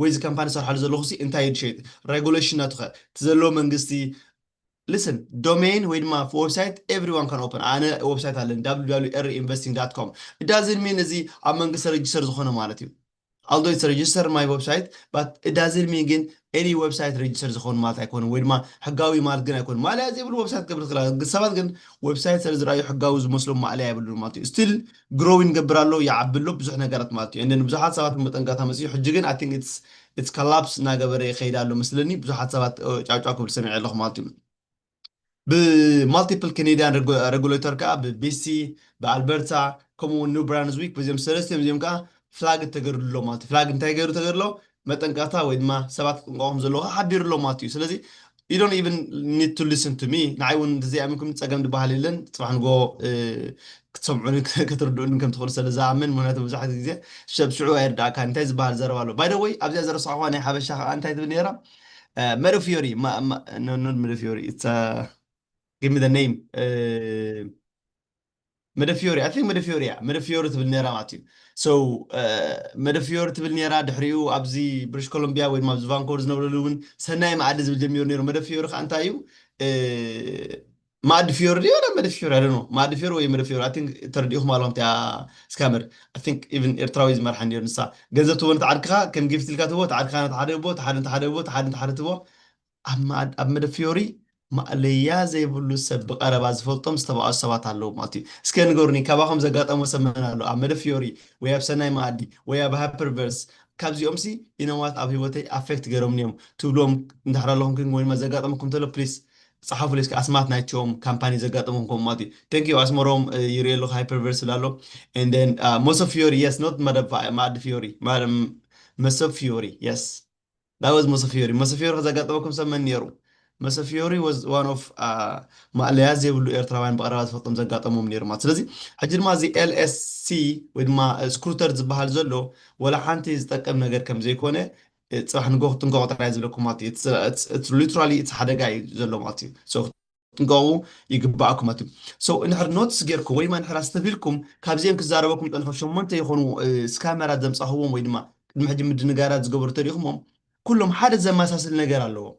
ወይ እዚ ካምፓኒ ዝሰርሓሉ ዘለኹሲ እንታይ እዩ ዝሸይጥ ረጉለሽናቱኸ እቲ ዘለዎ መንግስቲ listen ዶመይን ወይ ድማ ወብሳይት ኤቭሪዋን ካን ኦፐን ኣነ ወብሳይት ኣለኒ wwr ኢንቨስቲንግ ዳት ኮም it doesn't mean እዚ ኣብ መንግስቲ ረጅስተር ዝኾነ ማለት እዩ although it's registered my website but it doesn't mean ግን any website registered ዝኾኑ ማለት ኣይኮነን ወይ ድማ ሕጋዊ ማለት ግን ኣይኮነን ማእለያ ዘይብሉ website ክገብር ትኽእል ሰባት ግን website ስለ ዝረኣዩ ሕጋዊ ዝመስሎም ማእለያ የብሉን ማለት እዩ still Grow ይገብር ኣሎ ይዓቢ ኣሎ ብዙሕ ነገራት ማለት እዩ and then ብዙሓት ሰባት ውን መጠንቀቕታ መጺኡ ሕጂ ግን I think it's it's collapse እናገበረ ይኸይድ ኣሎ መስለኒ ብዙሓት ሰባት ጫው ጫው ክብል ሰሚዐ ኣለኹ ማለት እዩ ብ multiple Canadian regulator ከኣ ብ BC ብ Alberta ከምኡ ውን New Brunswick በዚኦም ሰለስቲኦም እዚኦም ከኣ flag ተገይርሉ ኣሎ ማለት እዩ flag እንታይ ገይሩ ተገይሩ ኣሎ መጠንቀቕታ ወይ ድማ ሰባት ክጥንቀቑ ከም ዘለዎም ሓቢሩ ኣሎ ማለት እዩ ስለዚ you don't even need to listen to me ንዓይ እውን እንተዘይ ኣሚንኩም ፀገም ዝበሃል የለን ፅባሕ ንጎ ክትሰምዑን ክትርድኡን ከም ትኽእሉ ስለ ዝኣምን ምክንያቱ መብዛሕትኡ ግዜ ሰብ ሽዑ ኣይርዳእካን እንታይ ዝበሃል ዘረባ ኣሎ ባይ ወይ ኣብዚኣ ዘረስዕኹዋ ናይ ሓበሻ ከዓ እንታይ ትብል ነይራ መደፊዮሪ መደፊዮሪ ጊቭ ሚ ኔም መደፍዮሪ ኣይ ቲንክ መደፍዮሪ እያ መደፍዮሪ ትብል ነይራ ማለት እዩ so መደፍዮሪ ትብል ነይራ ድሕሪኡ ኣብዚ ብሪሽ ኮሎምቢያ ወይ ድማ ኣብዚ ቫንኮቨር ዝነብረሉ እውን ሰናይ መኣዲ ዝብል ጀሚሩ ነይሩ መደፍዮሪ ከዓ እንታይ እዩ መኣዲ ፍዮሪ ድዩ ወላ መደፍዮሪ ኣይ ዶንት ኖ መኣዲ ፍዮሪ ወይ መደፍዮሪ ኣይ ቲንክ ተረዲእኹም ኣለኹም እቲኣ ስካመር ኣይ ቲንክ ኢቭን ኤርትራዊ ዝመርሓ ነይሩ ንሳ ገንዘብ ትህቦ ነቲ ዓርክኻ ከም ጊፍት ኢልካ ትህቦ እቲ ዓርክኻ ነቲ ሓደ ህቦ እቲ ሓደ ነቲ ሓደ ህቦ እቲ ሓደ ነቲ ሓደ ትህቦ ኣብ መኣድ ኣብ መደፊዮሪ ማእለያ ዘይብሉ ሰብ ብቀረባ ዝፈልጦም ዝተባኣሱ ሰባት ኣለዉ ማለት እዩ እስከ ንገሩኒ ካባኹም ዘጋጠሞ ሰብ መን ኣሎ ኣብ መደፊዮሪ ወይ ኣብ ሰናይ መኣዲ ወይ ኣብ ሃፐር ቨርስ ካብዚኦምሲ ኢነዋት ኣብ ሂወተይ ኣፌክት ገሮምኒ እዮም ትብልዎም እንድሕር ኣለኹም ግን ወይ ድማ ዘጋጠመኩም ተሎ ፕሊስ ጸሓፉለይ እስከ ኣስማት ናይቶም ካምፓኒ ዘጋጠመኩም ከምኡ ማለት እዩ thank you ኣስመሮም ይሪኦ ኣለኹ ሃይፐር ቨርስ ይብል ኣሎ and then uh, መሶብ ፊዮሪ yes not መደብ መኣዲ ፊዮሪ መሶብ ፊዮሪ yes That was Mosefiori Mosefiori ከዘጋጠመኩም ሰብ መን ኔሩ? Mosefiori was one of ማእለያ ዘይብሉ ኤርትራውያን ብቐረባ ዝፈልጦም ዘጋጠሞም ኔሩ ማለት ስለዚ ሕጂ ድማ እዚ LSC ወይ ድማ ስክሩተር ዝብሃል ዘሎ ወላ ሓንቲ ዝጠቅም ነገር ከም ዘይኮነ ጽባሕ ንግሆ ክትንቀቑ ጥራይ እየ ዝብለኩም ማለት እዩ it's literally it's ሓደጋ እዩ ዘሎ ማለት እዩ so ንገኡ ይግባኣኩም ኣቱ so እንድሕር ኖትስ ጌርኩም ወይማ እንድሕር ኣስተብሂልኩም ካብዚኦም ክዛረበኩም ጠልሑ ሸሞንተ ይኾኑ ስካመራት ዘምጻኹዎም ወይ ድማ ቅድሚ ሕጂ ምድንጋራት ዝገበሩ ተሪእኹሞም ኩሎም ሓደ ዘመሳስል ነገር ኣለዎም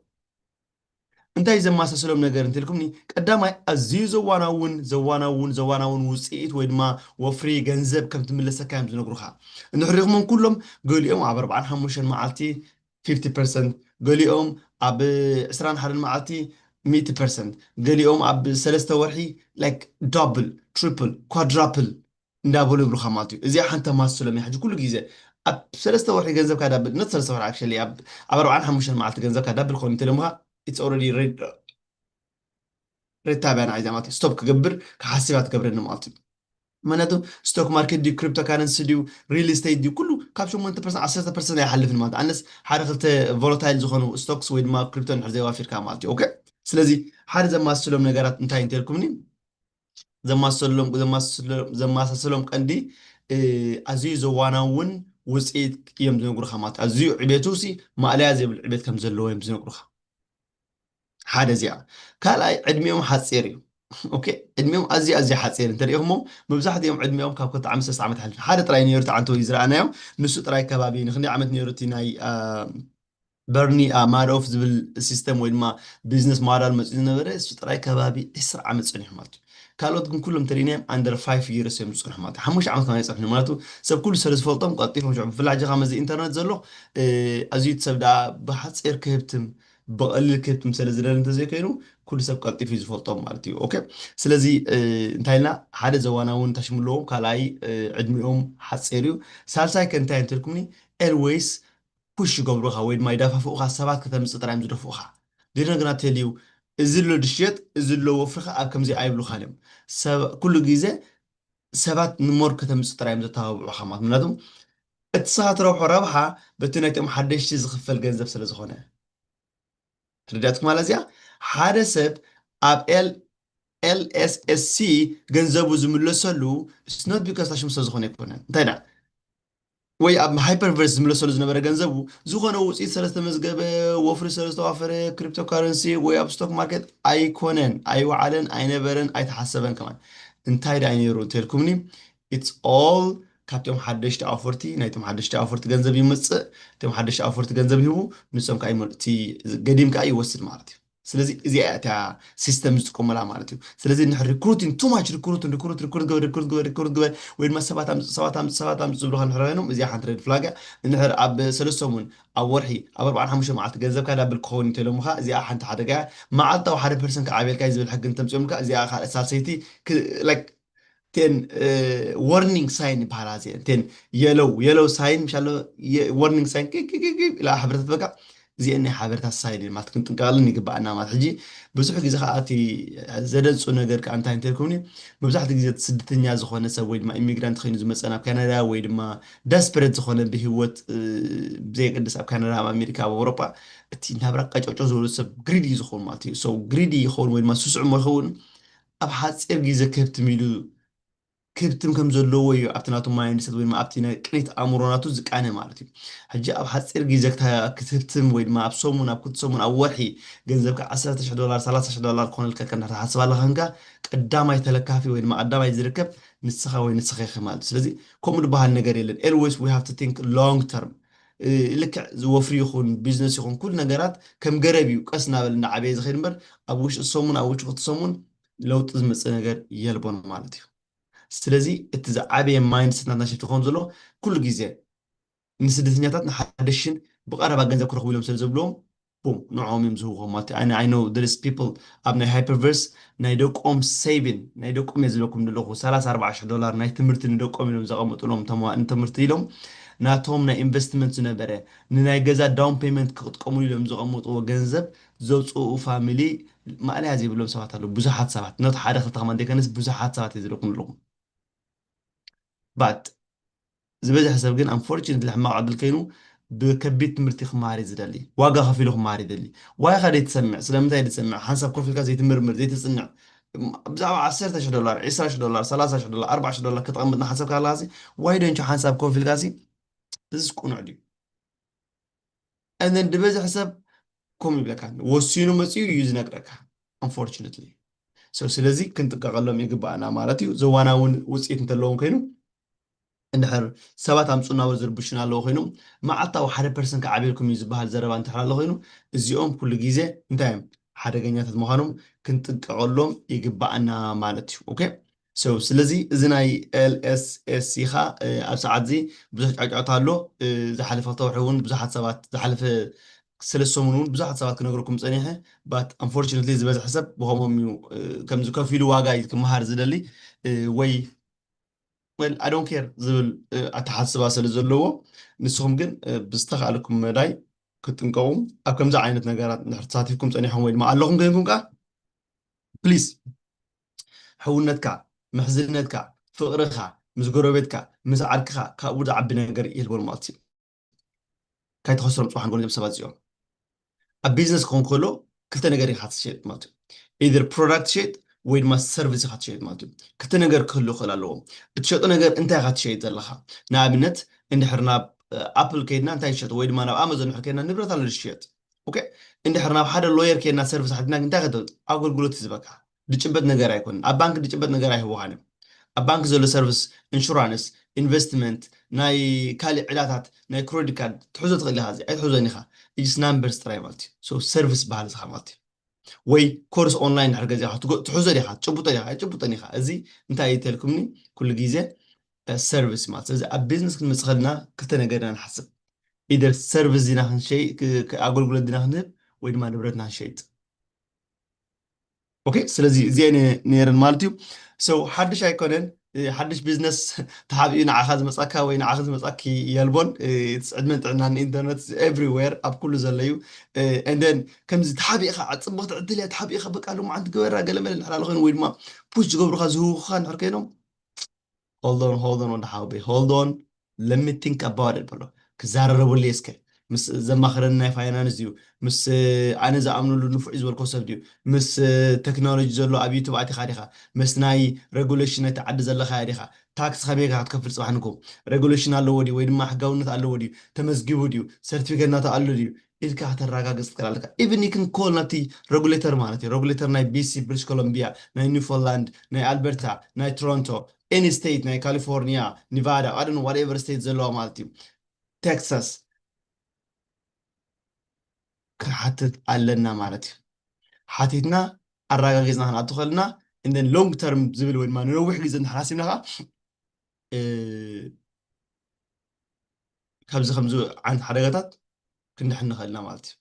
እንታይ ዘመሳስሎም ነገር እንትልኩምኒ ቀዳማይ ኣዝዩ ዘዋናውን ዘዋናውን ዘዋናውን ውጽኢት ወይ ድማ ወፍሪ ገንዘብ ከም ትምለሰካ እዮም ዝነግሩኻ እንሕሪኹሞም ኩሎም ገሊኦም ኣብ ኣርብዓን ሓሙሽተን መዓልቲ ፊፍቲ ፐርሰንት፣ ገሊኦም ኣብ ዕስራን ሓደን መዓልቲ ሚእቲ ፐርሰንት፣ ገሊኦም ኣብ ሰለስተ ወርሒ ላይክ ዳብል፣ ትሪፕል፣ ኳድራፕል እንዳበሉ ይብሉኻ ማለት እዩ። እዚኣ ሓንቲ ተማስሎም እያ። ሕጂ ኩሉ ግዜ ኣብ ሰለስተ ወርሒ ገንዘብካ ዳብል፣ ኖት ሰለስተ ወርሒ ኣክቸሊ ኣብ ኣርብዓን ሓሙሽተን መዓልቲ ገንዘብካ ዳብል ክኸውን እንተኢሎምኻ ኢትስ ኦልረዲ ሪታ ብያ ንዓይ ዛማት ስቶፕ ክገብር ክሓስብ እያ ትገብረኒ መዓልቱ ምክንያቱ ስቶክ ማርኬት ድዩ ክሪፕቶ ካረንሲ ድዩ ሪል ስቴት ድዩ ኩሉ ካብ ሸሞንተ ፐርሰንት ዓሰርተ ፐርሰንት ኣይሓልፍን ማለት ኣነስ ሓደ ክልተ ቮሎታይል ዝኾኑ ስቶክስ ወይ ድማ ክሪፕቶ ንድሕር ዘይዋፊርካ ማለት እዩ ኦኬ ስለዚ ሓደ ዘማስሎም ነገራት እንታይ እንተልኩምኒ ዘማሰሎም ዘማሳሰሎም ቀንዲ ኣዝዩ ዘዋናውን ውፅኢት እዮም ዝነግሩኻ ማለት ኣዝዩ ዕቤቱ ሲ ማእለያ ዘይብሉ ዕቤት ከም ዘለዎ እዮም ዝነግሩኻ ሓደ እዚኣ ካልኣይ ዕድሚኦም ሓፂር እዩ ኦኬ ዕድሚኦም ኣዝዩ ኣዝዩ ሓፂር እንተሪኢኹሞ መብዛሕትኦም ዕድሚኦም ካብ ክልተ ዓመት ሰለስተ ዓመት ሓሊፉ ሓደ ጥራይ ነይሩ እቲ ዓንተወይ ዝረኣናዮ ንሱ ጥራይ ከባቢ ንክንደይ ዓመት ነይሩ እቲ ናይ በርኒ ማዶፍ ዝብል ሲስተም ወይ ድማ ቢዝነስ ሞዳል መፅኡ ዝነበረ እሱ ጥራይ ከባቢ ዕስራ ዓመት ፀኒሑ ማለት እዩ ካልኦት ግን ኩሎም እንተሪእናዮም ኣንደር ፋይፍ ይርስ እዮም ዝፀንሑ ማለት እዩ ሓሙሽተ ዓመት ከማ ይፀንሑ ማለት ሰብ ኩሉ ስለ ዝፈልጦም ቀልጢፎም ሽዑ ብፍላይ ሕጂ ካብ መዚ ኢንተርነት ዘሎ ኣዝዩ እቲ ሰብ ደኣ ብሓፂር ክህብትም ብቐሊል ክትምሰለ ዝደለ እንተዘይኮይኑ ኩሉ ሰብ ቀልጢፉ እዩ ዝፈልጦም ማለት እዩ ኦኬ ስለዚ እንታይ ኢልና ሓደ ዘዋና እውን ታሽሙ ኣለዎም ካልኣይ ዕድሚኦም ሓፂር እዩ ሳልሳይ ከ እንታይ እንትልኩምኒ ኤልወይስ ፑሽ ይገብሩኻ ወይ ድማ ይዳፋፍኡኻ ሰባት ከተምፅእ ጥራይ እዮም ዝደፍኡኻ ዲነ ግና ተልዩ እዚ ኣሎ ድሽየጥ እዚ ኣሎ ወፍርኻ ኣብ ከምዚ ኣይብሉኻን እዮም ሰብ ኩሉ ግዜ ሰባት ንሞር ከተምጽእ ጥራይ እዮም ዘተባብዑኻ ማለት ምክንያቱ እቲ ንስኻ ትረብሖ ረብሓ በቲ ናይቶም ሓደሽቲ ዝኽፈል ገንዘብ ስለ ዝኾነ ተረዳትኩም ማለት እዚኣ ሓደ ሰብ ኣብ ኤል ኤልኤስኤስሲ ገንዘቡ ዝምለሰሉ ስኖት ቢካስ ታሽሙ ስለ ዝኾነ ኣይኮነን እንታይ ደኣ ወይ ኣብ ሃይፐርቨርስ ዝምለሰሉ ዝነበረ ገንዘቡ ዝኾነ ውፅኢት ስለዝተመዝገበ ወፍሪ ስለዝተዋፈረ ክሪፕቶ ካረንሲ ወይ ኣብ ስቶክ ማርኬት ኣይኮነን ኣይወዓለን ኣይነበረን ኣይተሓሰበን ከማን እንታይ ዳይ ነይሩ እንተልኩምኒ ኢትስ ኦል ካብቶም ሓደሽቲ ኣውፈርቲ ናይቶም ሓደሽቲ ኣውፈርቲ ገንዘብ ይመፅእ እቶም ሓደሽቲ ኣውፈርቲ ገንዘብ ይህቡ ንሶም ከዓ እቲ ገዲም ከዓ ይወስድ ማለት እዩ ስለዚ እዚኣ እያ እታ ሲስተም ዝጥቀሙላ ማለት እዩ ስለዚ ንድሕር ሪክሩቲን ቱ ማች ሪክሩትን ሪክሩት ሪክሩት ግበር ሪክሩት ግበር ሪክሩት ግበር ወይ ድማ ሰባት ኣምፅ ሰባት ኣምፅ ሰባት ኣምፅ ዝብሉካ ንድሕር ኮይኖም እዚኣ ሓንቲ ሬድ ፍላግ እያ ንድሕር ኣብ ሰለስተ ሰሙን ኣብ ወርሒ ኣብ ኣርባዓን ሓሙሽተ መዓልቲ ገንዘብካ ዳብል ክኸውን እንተኢሎምኻ እዚኣ ሓንቲ ሓደጋ እያ መዓልታዊ ሓደ ፐርሰንት ክዓብየልካ እዩ ዝብል ሕጊ እንተምፅኦምልካ እዚኣ ካልእ ሳልሰይቲ ላይክ እተን ወርኒንግ ሳይን ይበሃላ እዚአን እተን የለው የለው ሳይን ምሻሎ ወርኒንግ ሳይን ቅቅቅቅ ኢላ ሓበሬታት በቃ እዚአን ናይ ሓበሬታት ሳይን እየን ማለት ክንጥንቀቐለን ይግባኣና ማለት ሕጂ ብዙሕ ግዜ ከዓ እቲ ዘደንፁ ነገር ከዓ እንታይ እንተልኩም መብዛሕትኡ ግዜ እቲ ስደተኛ ዝኾነ ሰብ ወይ ድማ ኢሚግራንት ኮይኑ ዝመፀ ናብ ካናዳ ወይ ድማ ደስፐሬት ዝኾነ ብሂወት እ፣ ብዘየገድስ ኣብ ካናዳ ኣብ ኣሜሪካ ኣብ ኣውሮጳ እቲ ናብራ ቀጨጮ ዝበሉ ሰብ ግሪዲ እዩ ዝኸውን ማለት እዩ ሰው ግሪዲ ይኸውን ወይ ድማ ስሱዕ እሞ ይኸውን ኣብ ሓጺር ግዜ ክህብትም ኢሉ ክህብትም ከም ዘለዎ እዩ ኣብቲ ናቱ ማይንድሰት ወይ ድማ ኣብቲ ናይ ቅኒት ኣእምሮ ናቱ ዝቃነ ማለት እዩ። ሕጂ ኣብ ሓጺር ግዜ ክትህብትም ወይ ድማ ኣብ ሰሙን ኣብ ክልተ ሰሙን ኣብ ወርሒ ገንዘብካ ዓሰርተ ሽሕ ዶላር ሰላሳ ሽሕ ዶላር ክኾነልካ ከንካ ትሓስብ ኣለኻ ከንካ ቀዳማይ ተለካፊ ወይ ድማ ቀዳማይ ዝርከብ ንስኻ ወይ ንስኺ ኢኺ ማለት እዩ። ስለዚ ከምኡ ድበሃል ነገር የለን ኤልወይስ ዊ ሃቭ ቱ ቲንክ ሎንግ ተርም ልክዕ ወፍሪ ይኹን ቢዝነስ ይኹን ኩሉ ነገራት ከም ገረብ እዩ ቀስ እናበለ እናዓበየ ዝኸይድ እምበር ኣብ ውሽጢ ሰሙን ኣብ ውሽጢ ክልተ ሰሙን ለውጢ ዝመፅእ ነገር የልቦን ማለት እዩ። ስለዚ እቲ ዝዓበየ ማይንድ ሴት ናትና ሽፍት ክኸውን ዘለዎ ኩሉ ግዜ ንስደተኛታት ንሓደሽን ብቐረባ ገንዘብ ክረኽቡ ኢሎም ስለ ዝብልዎም ቡም ንዖም እዮም ዝህብዎ ማለት ኣነ ኣይ ኖው ዴር ኢዝ ፒፕል ኣብ ናይ ሃይፐርቨርስ ናይ ደቆም ሰይቪን ናይ ደቆም እየ ዝብለኩም ዘለኹ ሰላሳ ኣርባዓ ሽሕ ዶላር ናይ ትምህርቲ ንደቆም ኢሎም ዘቐመጥሎም ተማዋእን ትምህርቲ ኢሎም ናቶም ናይ ኢንቨስትመንት ዝነበረ ንናይ ገዛ ዳውን ፔመንት ክቕጥቀምሉ ኢሎም ዘቐመጥዎ ገንዘብ ዘውጽኡ ፋሚሊ ማእለያ ዘይብሎም ሰባት ኣለዉ ብዙሓት ሰባት ኖት ሓደ ክልተ ከማን ዘይከነስ ብዙሓት ሰባት እየ ዝብለኩም ዘለኹ but ዝበዝሐ ሰብ ግን unfortunately ሕማቕ ዕድል ከይኑ ብከቢድ ትምህርቲ ክመሃር እዩ ዝደሊ ዋጋ ከፊሉ ክመሃር ይደሊ ዋይ ኢኻ ዘይትሰምዕ ስለምንታይ ዘይትሰምዕ ሓንሳብ ኮፍ ኢልካ ዘይትምርምር ዘይትጽንዕ ብዛዕባ ዓሰርተ ሽሕ ዶላር ዕስራ ሽሕ ዶላር ሰላሳ ሽሕ ዶላር ኣርባዓ ሽሕ ዶላር ከተቐምጥ እናሓሰብካ ኣለኻሲ ዋይ ዶንት ሓንሳብ ኮፍ ኢልካሲ እዚስ ቅኑዕ ድዩ እነን ድበዝሕ ሰብ ከምኡ ይብለካ ወሲኑ መፅኡ እዩ ዝነግረካ ኣንፎርችነትሊ ሰው ስለዚ ክንጥቀቀሎም ይግባኣና ማለት እዩ ዘዋና እውን ውፅኢት እንተለዎም ኮይኑ እንድሕር ሰባት ኣምፁና ወይ ዝርብሹና ኣለዎ ኮይኖም መዓልታዊ ሓደ ፐርሰን ክዓብየልኩም እዩ ዝበሃል ዘረባ እንተሕር ኣሎ ኮይኑ እዚኦም ኩሉ ግዜ እንታይ እዮም ሓደገኛታት ምዃኖም ክንጥቀቀሎም ይግባኣና ማለት እዩ ኦኬ So ስለዚ እዚ ናይ LSSC ከኣ ኣብ ሰዓት እዚ ብዙሕ ጫጫታ ኣሎ ዝሓለፈ ክልተ ወርሒ ውን ብዙሓት ሰባት ዝሓለፈ ሰለስተ ሰሙን ውን ብዙሓት ሰባት ክነግረኩም ጸኒሐ but unfortunately ዝበዝሐ ሰብ ብከምኦም እዩ ከምዚ ከፊሉ ዋጋ እዩ ክመሃር ዝደሊ ወይ well I don't care ዝብል ኣተሓስባ ስለ ዘለዎ ንስኩም ግን ብዝተካእለኩም መዳይ ክትጥንቀቁ ኣብ ከምዚ ዓይነት ነገራት እንድሕር ተሳቲፍኩም ጸኒሕኩም ወይ ድማ ኣለኩም ኮይንኩም ከኣ please ሕውነትካ፣ ምሕዝነትካ፣ ፍቕርኻ ምስ ጎረቤትካ፣ ምስ ዓርክኻ ካብኡ ዝዓቢ ነገር የልቦን ማለት እዩ። ካይትኸስሮም ጽባሕ ንጎኒ እዞም ሰባት እዚኦም። ኣብ ቢዝነስ ክኸውን ከሎ ክልተ ነገር ኢኻ ትሸጥ ማለት እዩ። ኢዘር ፕሮዳክት ትሸጥ ወይ ድማ ሰርቪስ ኢኻ ትሸጥ ማለት እዩ። ክልተ ነገር ክህሉ ክኽእል ኣለዎ። እትሸጦ ነገር እንታይ ኢኻ ትሸይጥ ዘለኻ? ንኣብነት እንድሕር ናብ ኣፕል ከይድና እንታይ ዝሸጡ ወይ ድማ ናብ ኣማዞን ድሕር ከይድና ንብረት ኣሎ ዝሽየጥ ኦኬ እንድሕር ናብ ሓደ ሎየር ከይድና ሰርቪስ ሓቲትና እንታይ ከተውፅ ኣገልግሎት እዩ ዝበካ ድጭበጥ ነገር ኣይኮነን ኣብ ባንኪ ድጭበጥ ነገር ኣይህቡኻን እዮም ኣብ ባንኪ ዘሎ ሰርቭስ እንሹራንስ ኢንቨስትመንት ናይ ካልእ ዕዳታት ናይ ክሮዲት ካርድ ትሕዞ ትኽእል ኢኻ እዚ ኣይትሕዞን ኢኻ ኢጅስ ናምበርስ ጥራይ ማለት እዩ ሶ ሰርቭስ በሃል እስኻ ማለት እዩ ወይ ኮርስ ኦንላይን ድሕር ገዚኻ ትሕዞ ዲኻ ትጭብጦ ዲኻ ኣይትጭብጦን ኢኻ እዚ እንታይ እዩ ተልኩምኒ ኩሉ ግዜ ሰርቪስ ማለት ስለዚ ኣብ ቢዝነስ ክንመፅ ከለና ክልተ ነገር ኢና ንሓስብ ኢደር ሰርቪስ ዲና ክንሸይ ኣገልግሎት ዲና ክንህብ ወይ ድማ ንብረትና ክንሸይጥ ኦኬ ስለዚ እዚአን ነይረን ማለት እዩ ሰው ሓድሽ ኣይኮነን ሓድሽ ቢዝነስ ተሓቢኡ ንዓኻ ዝመፃካ ወይ ንዓኺ ዝመፃኪ የልቦን ዕድመን ጥዕናን ኢንተርነት ኤቭሪዌር ኣብ ኩሉ ዘሎ እዩ እንደን ከምዚ ተሓቢእኻ ፅብቕቲ ዕድል እያ ተሓቢእኻ በቃ ሎማዓንቲ ግበራ ገለመለ ንሕራለ ኮይኑ ወይ ድማ ፑሽ ዝገብሩካ ዝህውኹኻ ንሕር ኮይኖም ሆልድ ኦን ሆልድ ኦን ወዲ ሓውበይ ሆልድ ኦን ለት ሚ ቲንክ ኣባውት ኢት በሎ ክዛረረበሉ እየ እስከ ምስ ዘማኽረኒ ናይ ፋይናንስ ድዩ ምስ ኣነ ዝኣምነሉ ንፉዕ እዩ ዝበልኮ ሰብ ድዩ ምስ ቴክኖሎጂ ዘሎ ኣብ ዩቱብ ኣቲኻ ዲኻ ምስ ናይ ሬጉሌሽን ናይቲ ዓዲ ዘለኻያ ዲኻ ታክስ ከመይ ኢኻ ክትከፍል ጽባሕ ንግሆ ሬጉሌሽን ኣለዎ ድዩ ወይ ድማ ሕጋውነት ኣለዎ ድዩ ተመዝጊቡ ድዩ ሰርቲፊኬት ናቱ ኣሎ ድዩ ኢልካ ከተራጋግጽ ትክእል ኣለካ ኢቭን ዩ ክን ኮል ናብቲ ረጉሌተር ማለት እዩ ረጉሌተር ናይ ቢሲ ብሪሽ ኮሎምቢያ ናይ ኒፎላንድ ናይ ኣልበርታ ናይ ቶሮንቶ ኤኒ ስቴት ናይ ካሊፎርኒያ ኒቫዳ ኣደን ዋትኤቨር ስቴት ዘለዋ ማለት እዩ ቴክሳስ ክንሓትት ኣለና ማለት እዩ ሓቲትና ኣረጋጊፅና ክንኣቱ ከለና እንደን ሎንግ ተርም ዝብል ወይ ድማ ንነዊሕ ግዜ እንተሓሲብና ከዓ ካብዚ ከምዚ ዓይነት ሓደጋታት ክንድሕን ንኽእል ኢና ማለት እዩ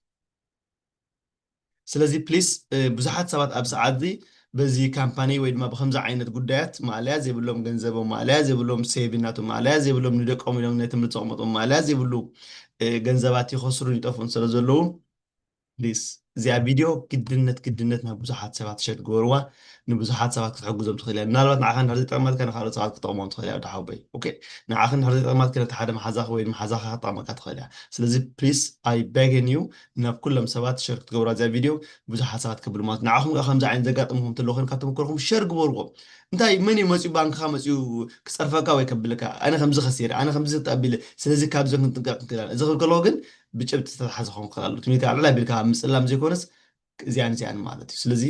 ስለዚ ፕሊስ ብዙሓት ሰባት ኣብ ሰዓት እዚ በዚ ካምፓኒ ወይ ድማ ብከምዚ ዓይነት ጉዳያት ማእለያ ዘይብሎም ገንዘቦም ማእለያ ዘይብሎም ሴቪ ናቶም ማእለያ ዘይብሎም ንደቆም ኢሎም ናይ ትምህርቲ ዘቕመጦም ማእለያ ዘይብሉ ገንዘባት ይኸስሩን ይጠፍኡን ስለ ዘለዉ please እዚኣ ቪድዮ ግድነት ግድነት ናብ ብዙሓት ሰባት ሸር ግበርዋ ንብዙሓት ሰባት ክትሕግዞም ትኽእል እያ ምናልባት ንዓኻ እንድሕር ዘይጠቕመትካ ንካልኦት ሰባት ክጠቕሞም ትኽእል እያ ዳሓወይ ኦኬ ንዓኻ እንድሕር ዘይጠቕማትካ ነቲ ሓደ መሓዛኻ ወይ መሓዛኻ ክጠቕመካ ትኽእል እያ ስለዚ ፕሊስ ኣይ ቤግን ዩ ናብ ኩሎም ሰባት ሸር ክትገብራ እዚኣ ቪድዮ ብዙሓት ሰባት ከብሉ ማለት ንዓኹም ከ ከምዚ ዓይነት ዘጋጥምኹም እንተሎ ኮይኑ ካብ ተመክሮኹም ሸር ግበርዎ እንታይ መን እዩ መፅኡ ባንክኻ መፅኡ ክፀርፈካ ወይ ከብልካ ኣነ ከምዚ ከሲረ ኣነ ከምዚ ተኣቢለ ስለዚ ካብዚ ክንጥንቀቕ ክንክእል እዚ ክብል ከለዎ ግን ብጭብጢ ዝተታሕዘ ክኸውን ክኽእል ኣለዎ። ትምህርቲ ኣልዕል ኣቢልካ ኣብ ምጽላም ዘይኮነስ እዚኣን እዚኣን ማለት እዩ። ስለዚ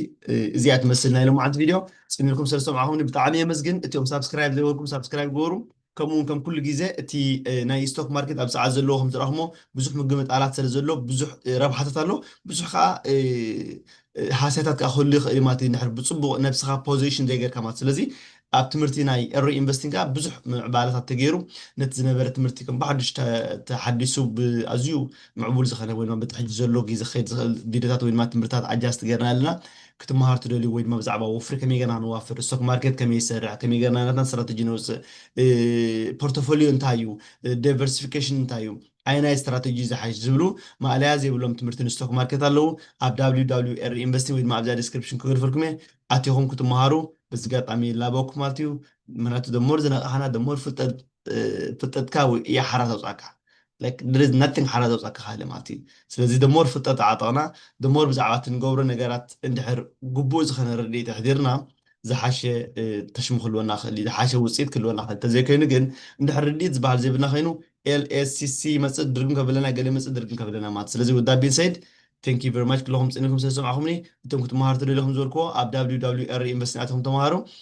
እዚኣ ትመስል ናይ ሎምዓንቲ ቪድዮ ጽን ኢልኩም ስለ ዝሰምዓኹምኒ ብጣዕሚ የመስግን። እቲኦም ሳብስክራይብ ዘይበልኩም ሳብስክራይብ ግበሩ። ከምኡ እውን ከም ኩሉ ግዜ እቲ ናይ ስቶክ ማርኬት ኣብ ሰዓት ዘለዎ ከም ዝረኣኹሞ ብዙሕ ምግምጣላት ስለ ዘሎ ብዙሕ ረብሓታት ኣሎ ብዙሕ ከዓ ሃስያታት ከዓ ክህሉ ይኽእል ማለት እዩ። እንድሕር ብጽቡቕ ነብስኻ ፖዚሽን ዘይገርካ ማለት ስለዚ ኣብ ትምህርቲ ናይ ኤሮ ኢንቨስቲንግ ከኣ ብዙሕ ምዕባለታት ተገይሩ ነቲ ዝነበረ ትምህርቲ ከም ብሓዱሽ ተሓዲሱ ብኣዝዩ ምዕቡል ዝኸነ ወይ ድማ በቲ ሕጂ ዘሎ ግዜ ክኸይድ ዝኽእል ቪድዮታት ወይ ድማ ትምህርትታት ኣጃስት ገርና ኣለና ክትመሃሩ ትደልዩ ወይ ድማ ብዛዕባ ወፍሪ ከመይ ገርና ክንዋፍር ስቶክ ማርኬት ከመይ ይሰርሕ ከመይ ገርና ናትና ስትራተጂ ነውጽእ ፖርቶፎልዮ እንታይ እዩ ዳይቨርሲፊኬሽን እንታይ እዩ ኣየናይ ስትራተጂ እዩ ዝሓይሽ ዝብሉ ማእለያ ዘይብሎም ትምህርቲ ንስቶክ ማርኬት ኣለው ኣብ wwre ኢንቨስቲንግ ወይ ድማ ኣብዛ ዴስክሪፕሽን ክግርፈልኩም እየ ኣቲኩም ክትማሃሩ በዚ ጋጣሚ ይላበወኩም ማለት እዩ ምክንያቱ the more ዝነቃሕና the more ፍልጠት ፍልጠትካ ወይ እያ ሓራ ተውጻካ like there is nothing ሓራ ዘውጻካ ካልእ ማለት እዩ ስለዚ the more ፍልጠት ተዓጠቅና the more ብዛዕባ እቲ ንገብሮ ነገራት እንድሕር ግቡእ ዝኮነ ርድኢት ኣሕዲርና ዝሓሸ ተሽሙ ክልወና ክእል እዩ ዝሓሸ ውጽኢት ክልወና ክእል እንተዘይኮይኑ ግን እንድሕር ርድኢት ዝበሃል ዘይብልና ኮይኑ LSCC ይመጽእ ድርግም ከብለና ገለ ይመጽእ ድርግም ከብለና ማለት ስለዚ with that being said thank you very much ክለኹም ጽኒኩም ስለ ዝሰማዕኹምኒ እቶም ክትመሃሩ ተደሊኹም ዝበልክዎ ኣብ www ሪ ዩኒቨርሲቲ ኣትኹም ተመሃሩ